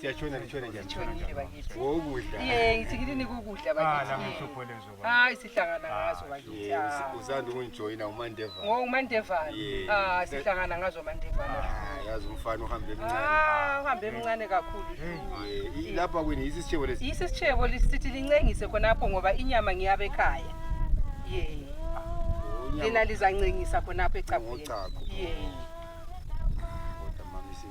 siyatshona litshona njani Ngitshonile bakithi. wokudla Ye, ngithi ngini nikukudla Ah, bakithi. nami ngihlupho lezo baba. Hayi sihlangana ngazo bakithi. Ye, Ah. usi- usanda ukungijoyina umandeva Ngo umandevana. Ye. Ah, sihlangana ngazo mandevana. Ah, yazi umfana uhambe emncane Ah, uhambe emncane kakhulu. Ye, i- lapha kwini yisi isitshebo lesi Yisi sitshebo lisithi lincengise khonapho ngoba inyama ngiyabe ekhaya. Ye. Lina lizancengisa khonapho ecapheni. Ngochago. Ye.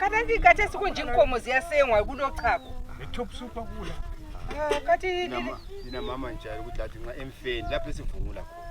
Katanzi kate sikunji nkomo ziyasengwa kulochago. Le top super kula. Ah, kati Ndina mama njalo ukuthi athi nxa emfeni lapho esivungula khona.